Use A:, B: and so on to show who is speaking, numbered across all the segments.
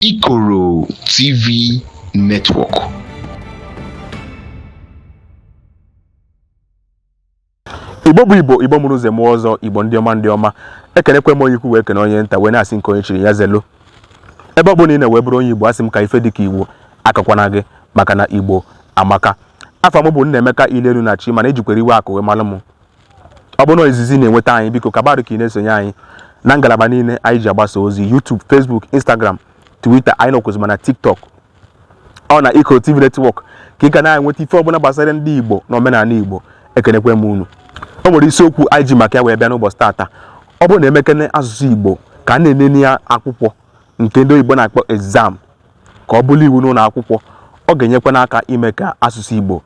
A: Ikoro TV
B: Network. igbo bụ igbo igbo mụrụ nze mụọ ọzọ igbo ndị ọma ndị ọma ekenekwa m onye ukwu wee kene onye nta wee na-asị nke onye chiri ya zelu ebe ọ bụla ị nọ wee bụrụ onye igbo asị m ka ife dịka igbo akọkwana gị maka na igbo amaka afa m bụ Nnaemeka Ilenu na chi mana ejikwere iwe akụ wee malụ m ọ bụrụ na izizi ị na-enweta anyị biko kabarụ ka ị na-esonye anyị na ngalaba niile anyị ji agbasa ozi YouTube Facebook Instagram Twitter anyị nọkwuzi ma na TikTok ọ na Ikoro TV Network ka ị ga na-enweta ife ọbụla gbasara ndị Igbo na omenala Igbo ekenekwa m unu o nwere isiokwu anyị ji maka ya wee bịa n'ụbọchị tata ọ bụrụ na emekene asụsụ Igbo ka a na-enene ya akwụkwọ nke ndị oyibo na-akpọ exam ka ọ bụrụ iwu n'ụlọ akwụkwọ ọ ga-enyekwa aka ime ka asụsụ Igbo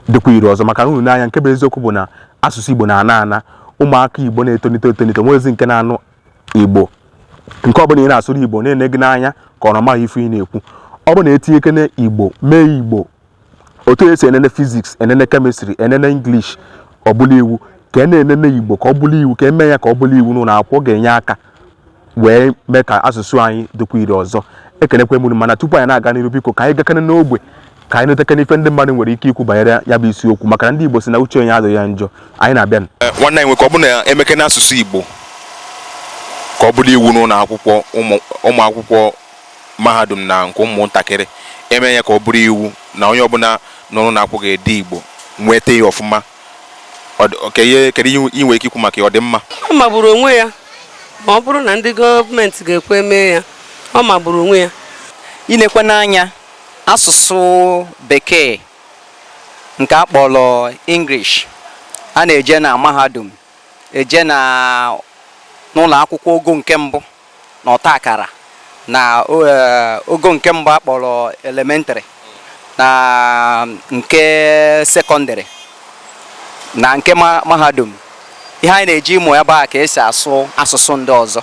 B: dịkwa ire ọzọ maka na unu nee anya nke bụ eziokwu bụ na asụsụ Igbo na-ana ana ụmụaka Igbo na-etonite etonite nweezi nke na-anụ Igbo nke ọ bụla ị na-asụrụ Igbo na-ene gị n'anya ka ọ na ọ maghị ife ị na-ekwu ọ bụ na etinyekene Igbo mee Igbo otu esi enene physics enene chemistry enene English ọ bụlụ iwu ka a na-enene Igbo ka ọ bụlụ iwu ka e mee ya ka ọ bụlụ iwu n'ụlọ akwụkwọ ọ ga-enye aka wee mee ka asụsụ anyị dịkwa ire ọzọ ekelekwa m unu mana tupu anyị na-aga n'iru biko ka anyị gakene n'ogbe ka anyị nụtakene ife ndị mmadụ nwere ike ikwu banyere ya bụ isiokwu maka na ndị Igbo sị na uche onye adịghị ya njọ anyị na-abịa eh, nwanne anyị nwoke ọ bụ na
C: emekene asụsụ Igbo ka ọ bụrụ iwu n'ụlọ akwụkwọ ụmụ akwụkwọ mahadum na nke ụmụntakịrị eme ya ka ọ bụrụ iwu na onye ọbụla nọ n'ụlọ akwụkwọ ga-ede Igbo nweta ya ọfụma Kedu ihe ị nwere ike ikwu maka ya? Ọ dị mma? Ọ magburu onwe
D: ya ma ọ bụrụ na ndị gọọmenti ga-ekwe mee ya. Ọ magburu onwe ya. I nekwanụ
E: anya asụsụ bekee nke a kpọrọ English a na-eje na mahadum, eje na n'ụlọ akwụkwọ ogo nke mbụ. na ọta akara na eh, ogo nke mbụ akpọrọ elementary na nke secondary na nke mahadum ihe anyị na-eje ịmụ ebe ahụ ka esi asụ asụsụ ndị ọzọ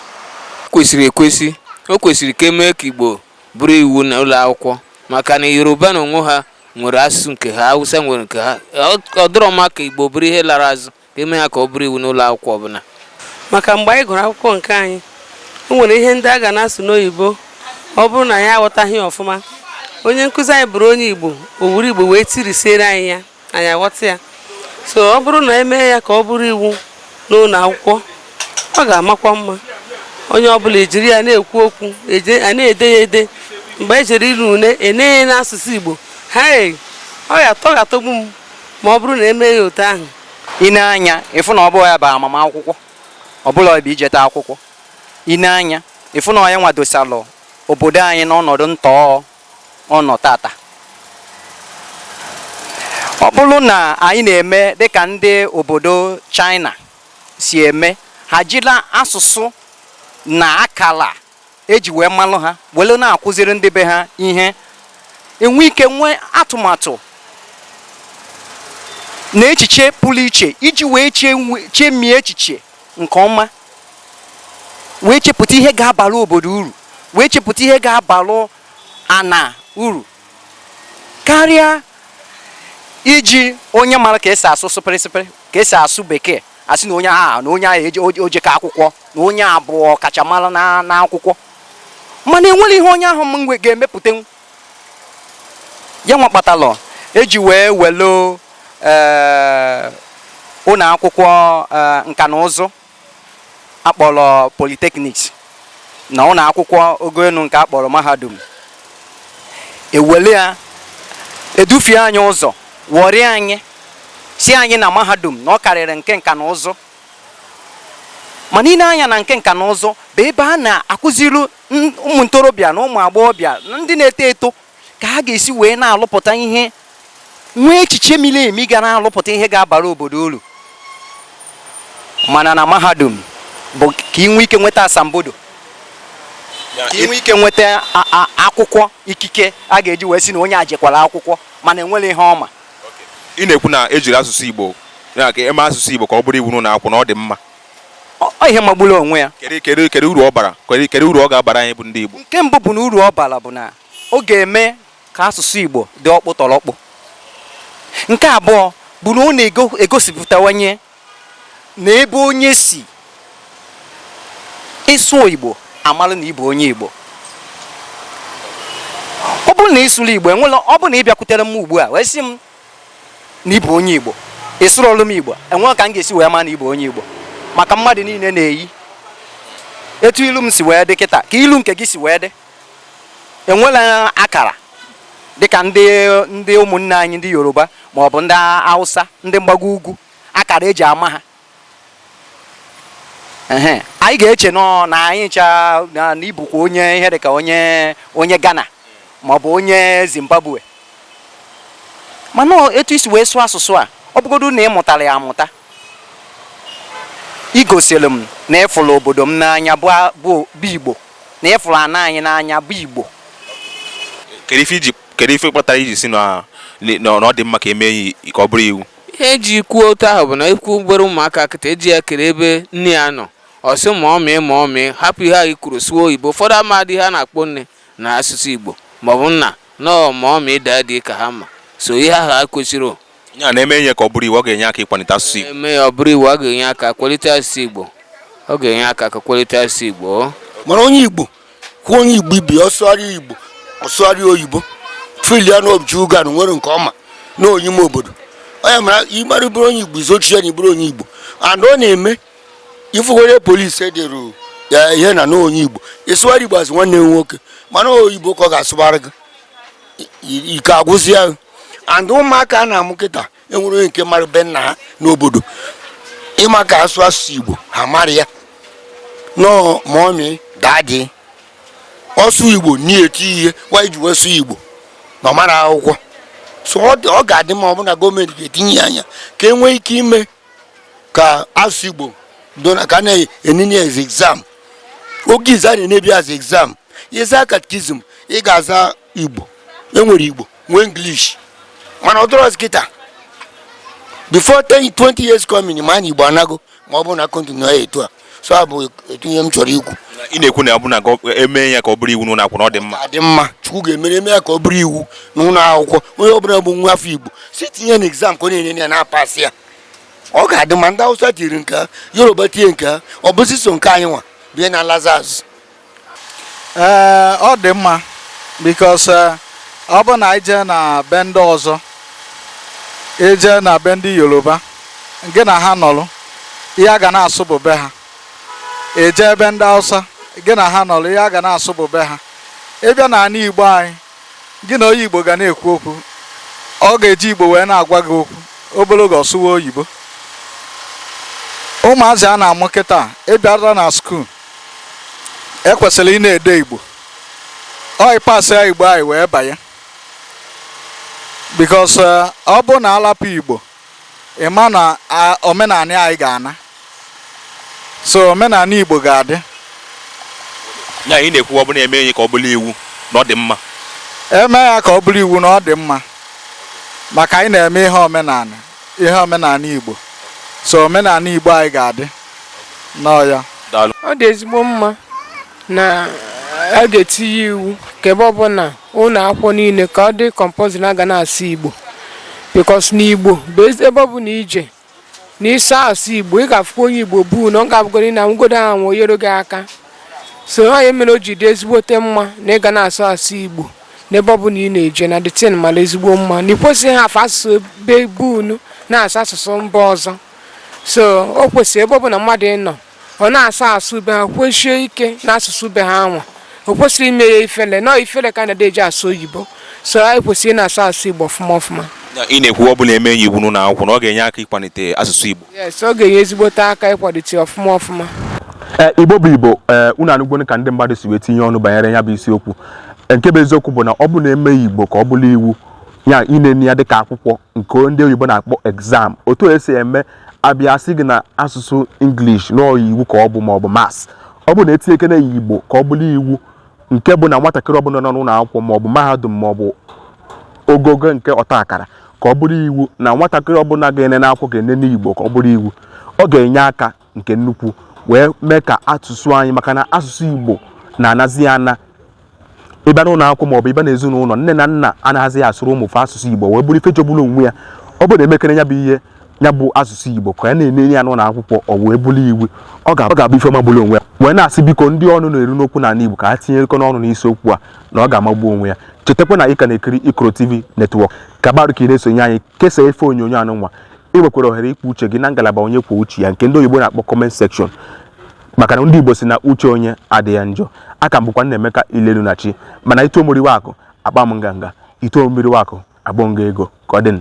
E: o kwesịrị
F: ekwesị o kwesịrị ka emee ka igbo bụrụ iwu na ụlọ akwụkwọ maka na yoruba na onwe ha nwere asụsụ nke ha hausa nwere nke ha ọ dịrọ mma ka igbo bụrụ ihe lara azụ ka eme ya ka ọ bụrụ iwu n'ụlọ akwụkwọ ọbụla maka mgbe
D: anyị gụrụ akwụkwọ nke anyị o nwere ihe ndị a ga na-asụ n'oyibo ọ bụrụ na anyị aghọtaghị ọfụma onye nkụzi anyị bụrụ onye igbo o were igbo wee tirisiere anyị ya anyị aghọta ya so ọ bụrụ na emee ya ka ọ bụrụ iwu n'ụlọ akwụkwọ ọ ga-amakwa mma onye ọbụla ejiri ya na-ekwu okwu a na-ede ya ede mgbe ejere ine une enee ya n'asụsụ igbo ha ọ ga-atọ ga-atọgbu m ma ọ bụrụ na e mee ya otu ahụ i nee
E: anya ịfụ na ọ bụrọ ya bụ amamakwụkwọ ọ bụrọ ya bụ ijeta akwụkwọ i nee anya ịfụ na ọ ya nwa dosalụ obodo anyị n'ọnọdụ ntọọ ọ nọ tata ọ bụrụ na anyị na-eme dịka ndị obodo China si eme ha jili asụsụ na akala eji wee malụ ha wele na-akụziri ndị be ha ihe e nwee ike nwee atụmatụ na echiche pụrụ iche iji wee chemie echiche nke ọma wee chepụta ihe ga-abara obodo uru wee chepụta ihe ga-abalụ ana uru karịa iji onye mara ka esi asụ sụpịrịsịpịrị ka esi asụ bekee a sị na onye aha na onye ahụ o jeka akwụkwọ na onye a bụ ọkachamara na akwụkwọ mana enwerọ ihe onye ahụ ga-emepụta ya nwa kpatalụ eji wee welụ eh, ụlọ akwụkwọ eh, nka na ụzụ akpọrọ polytechnics na ụlọ akwụkwọ ogo elu nke a kpọrọ mahadum ewere ya edufie anyị ụzọ ghọrịa anyị sị anyị na mahadum na ọ karịrị nke nka na ụzụ mana i nee anya na nke nka na ụzụ bụ ebe a na-akụziri ụmụ ntorobịa na ụmụ agbọghọbịa na ndị na-eto eto ka ha ga-esi wee na-alụpụta ihe nwee echiche miri emi ga na-alụpụta ihe ga-abara obodo uru mana na mahadum bụ ka i nwee ike nweta asambodo ka i nwee ike nweta akwụkwọ ikike a ga-eji wee si na onye a jekwara akwụkwọ mana enwerọ ihe ọ ma ị na-ekwu
C: na ejiri asụsụ Igbo ya ka eme asụsụ Igbo ka ọ bụrụ iwu n'ụlọ akwụkwọ na ọ dị mma ọ
E: ihe magburu onwe ya kedu kedu kedu uru ọ
C: bara kedu uru ọ ga-abara anyị bụ ndị Igbo nke mbụ bụ na uru
E: ọ bara bụ na ọ ga-eme ka asụsụ Igbo dị ọkpụtọrọkpụ nke abụọ bụ na ọ na-egosipụtawanye na ebe onye si ị sụọ Igbo a malụ na ị bụ onye Igbo ọ bụrụ na ị sụrọ Igbo enwerọ ọ bụrụ na ị bịakwutere m ugbu a wee sị m na ị bụ onye Igbo ị sụrọlụ m Igbo enwerọ ka m ga-esi wee ma na ị bụ onye Igbo maka mmadụ niile na-eyi etu ilu m si wee dị kịta ka ilu nke gị si wee dị enwerọ akara dịka ndị ndị ụmụnne anyị ndị Yoruba maọbụ ndị Hausa ndị mgbago ugwu akara eji ama ha ehe anyị ga-eche nọ na anyị ncha na na ị bụkwa onye ihe dịka onye onye Ghana maọbụ onye Zimbabwe mana ọ- etu isi wee sụọ asụsụ a ọ bụgodu na ị mụtara ya amụta igosiri m na ịfụrụ obodo m n'anya bụ a- bụ bụ Igbo na ịfụrụ ana anyị n'anya bụ Igbo kedu ife iji
C: kedu ife kpatara iji sị na na na ọ dị mma ka emee ya ka ọ bụrụ iwu ihe eji
F: kwuo otu ahụ bụ na ị kpọ obere ụmụaka kịta ị jụọ ya kere ebe nne ya nọ ọ sị mummy mummy hapụ ihe anyị kwuru sụọ oyibo ụfọdụ amadị ihe a na-akpọ nne na asụsụ igbo maọbụ nna no mummy daddy ka ha ma so ihe ahụ ekwesịrị ị na-eme ya
C: ka ọ bụrụ iwu ọ ga-enye aka ịkwalite asụsụ igbo eme ya ọ bụrụ iwu ọ ga-enye
F: aka kwalite asụsụ igbo ọ ga-enye aka ka kwalite asụsụ igbo mana onye igbo
G: hụ onye igbo ibe ọ sụgharịa igbo ọ sụgharịa oyibo filia na obji ugan nwere nke ọma na onye ime obodo onye mara ịmara bụrụ onye igbo izochi ya na ịbụrụ onye igbo and ọ na-eme ifụgwere police edere ya ihe na na onye igbo ịsụgharị igbo asị nwanne m nwoke mana oyibo ka ọ ga-asụgharị gị ike agwụzia and ụmụaka a na-amụ kịta enwere onye nke mara be nna ha n'obodo ịma ka asụ asụsụ igbo ha mara ya no mummy daddy ọ sụ igbo na-eti ihe why iji wee sụ igbo na ọ mara akwụkwọ so ọ dị- ọ ga-adị mma ọ bụ na government ga-etinye ya anya ka e nwee ike ime ka asụsụ igbo do na ka a na-enene ya as exam oge izizi a na-enebu ya as exam ịza catechism ị ga-aza igbo enwere igbo nwee english mana ọ dịrọzi kịta before 10 20 years coming ma na igbo anago ma ọ bụrụ na continue ya etu a so a bụ etu ihe m chọrọ ikwu ị na-ekwu na ọ bụ na
C: emee ya ka ọ bụrụ iwu n'ụlọ akwụkwọ na ọ dị mma ọ dị mma chukwu
G: ga-emere eme ya ka ọ bụrụ iwu n'ụlọ akwụkwọ onye ọbụla bụ nwa afọ igbo si tinye na exam ka ọ na-ene ya na-apasị ya ọ ga-adị mma ndị awụsa tiri nke ha yoruba tinye nke ha ọ bụzi so nke anyị nwa bie na lazarus
H: ee ọ dị mma because ọ bụ na ị jee na be ndị ọzọ ije na be ndị yoruba gị na ha nọrụ ihe ha ga na-asụ bụ be ha ije ebe ndị hausa gị na ha nọrụ ihe ha ga na-asụ bụ be ha ịbịa na ana igbo anyị gị na onye igbo ga na-ekwu okwu ọ ga-eji igbo wee na-agwa gị okwu obele oge ọ sụwa oyibo ụmụazị a na-amụ kịta ịbịara na school ekwesịrị ị na-ede igbo onye pasịa igbo anyị wee banye because eh, ọ bụ na alapụ igbo ịma na a- omenala anyị ga-ana so omenala igbo
C: ga-adị ya ị na-ekwu ọ bụrụ emee ya ka ọ bụrụ iwu na ọ dị mma eme ya
H: ka ọ bụrụ iwu na ọ dị mma maka anyị na-eme ihe omenala ihe omenala Igbo so omenala Igbo anyị ga-adị n'ọya ọ
I: dị ezigbo mma na a ga-etinye iwu ka ebe ọbụla ụlọ akwụkwọ niile ka ọ dị compulsory na a ga na-asụ Igbo because na Igbo bụ ebe ọ bụla i je na ị sụọ asụ Igbo ị ga-afụkwa onye Igbo bụ na ọ ga-abụgoro ị na-anwụgodo anwụ o nyere gị aka so ọ nya mere o ji dị ezigbote mma na ị ga na-asụ asụ Igbo n'ebe ọ bụla ị na-eje na the thing mara ezigbo mma na i kwesịghị hafụ asụsụ ebe be unu na-asụ asụsụ mba ọzọ so o kwesịrị ebe ọ bụla mmadụ nọ ọ na-asụ asụ be ha kwesie ike na asụsụ be ha nwa o kwesịghị ime ya ifele na ọ ifele ka a na-eji asụ oyibo so anyị kwesịrị ịna-asụ asụ igbo ọfụma ọfụma ị na-ekwu ọ bụ
C: na e mee ya iwu n'ụlọ akwụkwọ na ọ ga-enye aka ịkwalite asụsụ igbo yes ọ ga-enye
I: ezigbote aka ịkwalite ọfụma ọfụma eh, igbo
B: bụ igbo eh, unu anụgwonu ka ndị mmadụ si wee tinye ọnụ banyere ya bụ isiokwu eh, nke bụ eziokwu bụ na ọ bụ na e mee igbo ka ọ bụrụ iwu ya inene ya dịka akwụkwọ nke ndị oyibo na-akpọ exam otu e si eme a bịa sị gị na asụsụ English n'ọ iwu ka ọ bụ maọbụ maths ọ bụ na e tinyekene igbo ka ọ bụrụ iwu nke bụ na nwatakịrị ọbụla nọ n'ụlọ akwụkwọ maọbụ mahadum maọbụ ogogo nke ọta akara ka ọ bụrụ iwu na nwatakịrị ọbụla ga-enene akwụkwọ ga-enene Igbo ka ọ bụrụ iwu ọ ga-enye aka nke nnukwu wee mee ka asụsụ anyị maka na asụsụ Igbo na-anazi ana ị bịa n'ụlọ akwụkwọ maọbụ ị bịa n'ezinụlọ nne na nna anaghịzi asụrụ ụmụ fa asụsụ Igbo wee bụrụ ife jọgburu onwe ya ọ bụ na e mekere ya bụ ihe ya bụ asụsụ Igbo ka a na-enene ya n'ụlọ akwụkwọ ọ wee bụrụ iwu ọ ga-abụ ife magburu onwe ya wee na-asị biko ndị ọnụ na-eru n'okwu n'ala Igbo ka ha tinyekene ọnụ n'isi okwu a na ọ ga-amagbu onwe ya chetakwa na ị ka na-ekiri Ikoro TV network gaba iru ka ị na-esonye anyị kesaa ife onyonyo anụnwa ị nwekwara ohere ikwu uche gị na ngalaba onye kwuo uche ya nke ndị oyibo na-akpọ comment section maka na ndị Igbo si na uche onye adịghị ya njọ a ka m bụkwa Nnaemeka Ilelunachi mana i too m oriwe akụ akpaa m nganga i too m oriwe akụ agbọọ m gị ego ka ọ dị